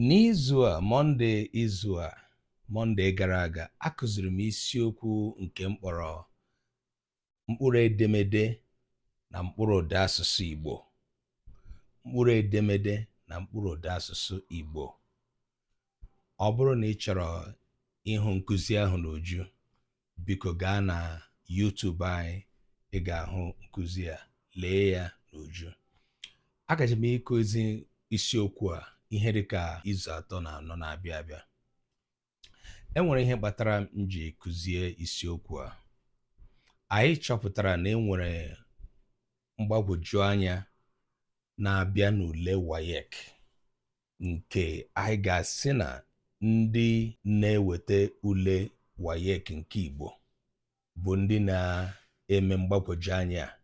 N'izu a, Mọnde izu a, Mọnde gara aga, akụziri m isiokwu nke m kpọrọ mkpụrụ edemede na mkpụrụ ụda asụsụ Igbo. Mkpụrụ edemede na mkpụrụ ụda asụsụ Igbo. Ọ bụrụ na ị chọrọ ịhụ nkụzi ahụ n'uju, biko gaa na YouTube anyị ị ga-ahụ nkụzi a lee ya n'uju agaje m ịkụzi isiokwu a ihe dị ka izu atọ na anọ na-abịa abịa e nwere ihe kpatara m ji kụzie isiokwu a anyị chọpụtara na e nwere mgbagwoju anya na-abịa n'ule WAEC nke anyị ga-asị na ndị na-eweta ule WAEC nke Igbo bụ ndị na-eme mgbagwoju anya a.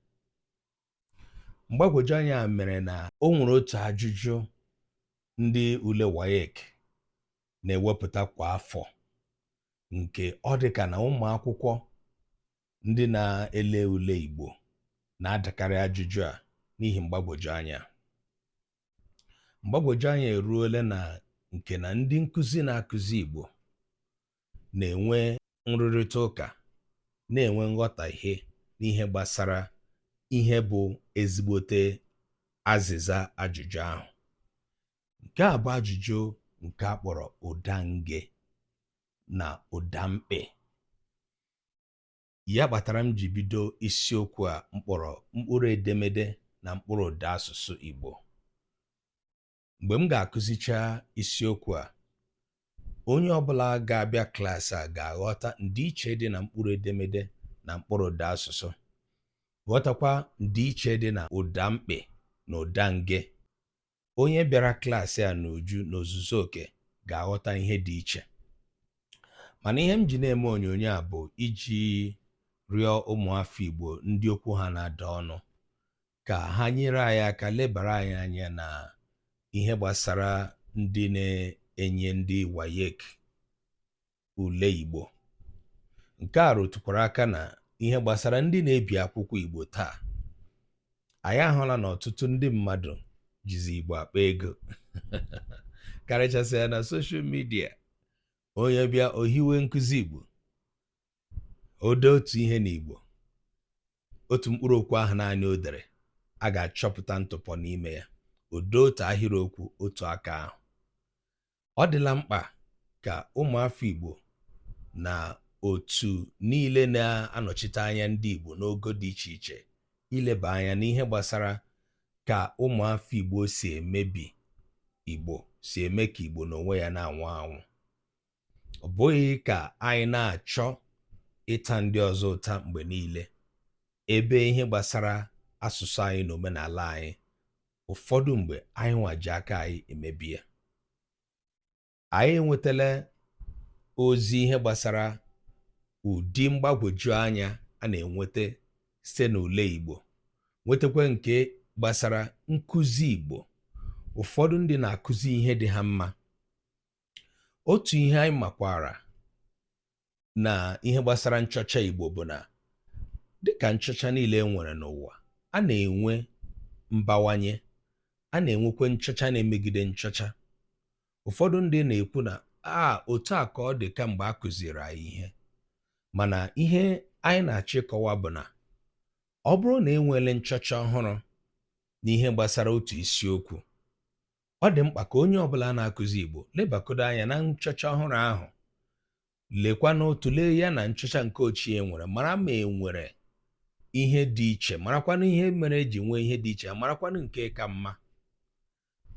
Mgbagwoju anya a mere na o nwere otu ajụjụ ndị ule WAEC na-ewepụta kwa afọ nke ọ dị ka na ụmụ akwụkwọ ndị na-ele ule Igbo na-adakarị ajụjụ a n'ihi mgbagwoju anya. mgbagwoju anya eruola na nke na ndị nkụzi na-akụzi Igbo na-enwe nrụrịta ụka na-enwe nghọtahie n'ihe gbasara ihe bụ ezigbote azịza ajụjụ ahụ nke a bụ ajụjụ nke a kpọrọ ụda nge na ụda mkpị Ya kpatara m ji bido isiokwu a m kpọrọ mkpụrụ edemede na mkpụrụ ụda asụsụ Igbo. Mgbe m ga-akụzicha isiokwu a, onye ọbụla ga-abịa klaasị a ga-aghọta ndịiche dị na mkpụrụ edemede na mkpụrụ ụda asụsụ, ghọtakwa ndịiche dị na ụda mkpị na ụda nge. onye bịara klaasị a n'uju n'ozuzu oke ga-aghọta ihe dị iche mana ihe m ji na-eme onyonyo a bụ iji rịọ ụmụafọ Igbo ndị okwu ha na-ada ọnụ ka ha nyere anyị aka lebara anyị anya na ihe gbasara ndị na-enye ndị WAEC ule Igbo. Nke a rụtụkwara aka na ihe gbasara ndị na-ebi akwụkwọ Igbo taa. Anyị ahụla na ọtụtụ ndị mmadụ jizi Igbo akpa ego karịchasịa na soshal midia onye bịa o hiwe nkụzi Igbo o dee otu ihe n'Igbo otu mkpụrụ okwu ahụ naanị o dere a ga-achọpụta ntụpọ n'ime ya o dee otu ahịrịokwu otu aka ahụ ọ dịla mkpa ka ụmụafọ Igbo na otu niile na-anọchite anya ndị Igbo n'ogo dị iche iche ileba anya n'ihe gbasara ka ụmụafọ Igbo si emebi Igbo si eme ka Igbo n'onwe ya na-anwụ anwụ ọ bụghị ka anyị na-achọ ịta ndị ọzọ ụta mgbe niile ebe ihe gbasara asụsụ anyị na omenala anyị ụfọdụ mgbe anyị nwa ji aka anyị emebi ya anyị enwetala ozi ihe gbasara ụdị mgbagwoju anya a na-enweta site n'ule Igbo nwetakwa nke gbasara nkụzi Igbo ụfọdụ ndị na-akụzi ihe dị ha mma otu ihe anyị makwara na ihe gbasara nchọcha Igbo bụ na dịka nchọcha niile e nwere n'ụwa a na-enwe mbawanye a na-enwekwa nchọcha na-emegide nchọcha ụfọdụ ndị na-ekwu na a otu a ka ọ dị kamgbe a kụziri anyị ihe mana ihe anyị na-achọ ịkọwa bụ na ọ bụrụ na e nweele nchọcha ọhụrụ n'ihe gbasara otu isiokwu ọ dị mkpa ka onye ọbụla na-akụzi Igbo lebakodo anya na nchọcha ọhụrụ ahụ lekwanụ tụlee ya na nchọcha nke ochie e nwere mara ma e nwere ihe dị iche marakwanụ ihe mere e ji nwee ihe dị iche marakwanụ nke ka mma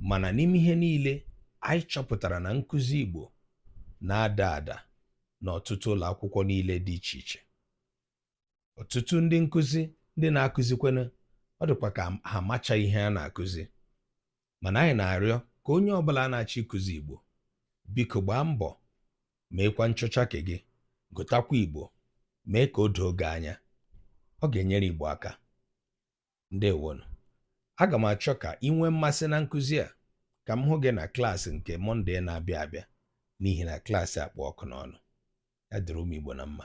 mana n'ime ihe niile anyị chọpụtara na nkụzi Igbo na-ada ada n'ọtụtụ ụlọ akwụkwọ niile dị iche iche ọtụtụ ndị nkụzi ndị na-akụzikwanụ ọ dịkwa ka ha macha ihe a na-akụzi mana anyị na-arịọ ka onye ọbụla na-achọ ịkụzi Igbo biko gbaa mbọ meekwa nchọcha ke gị gụtakwa Igbo mee ka o doo gị anya ọ ga-enyere Igbo aka ndewonu aga m achọ ka ị nwee mmasị na nkụzi a ka m hụ gị na klaasị nke mọnde na-abịa abịa n'ihi na klaasị a kpụ ọkụ n'ọnụ ya dịrị ụmụ Igbo na mma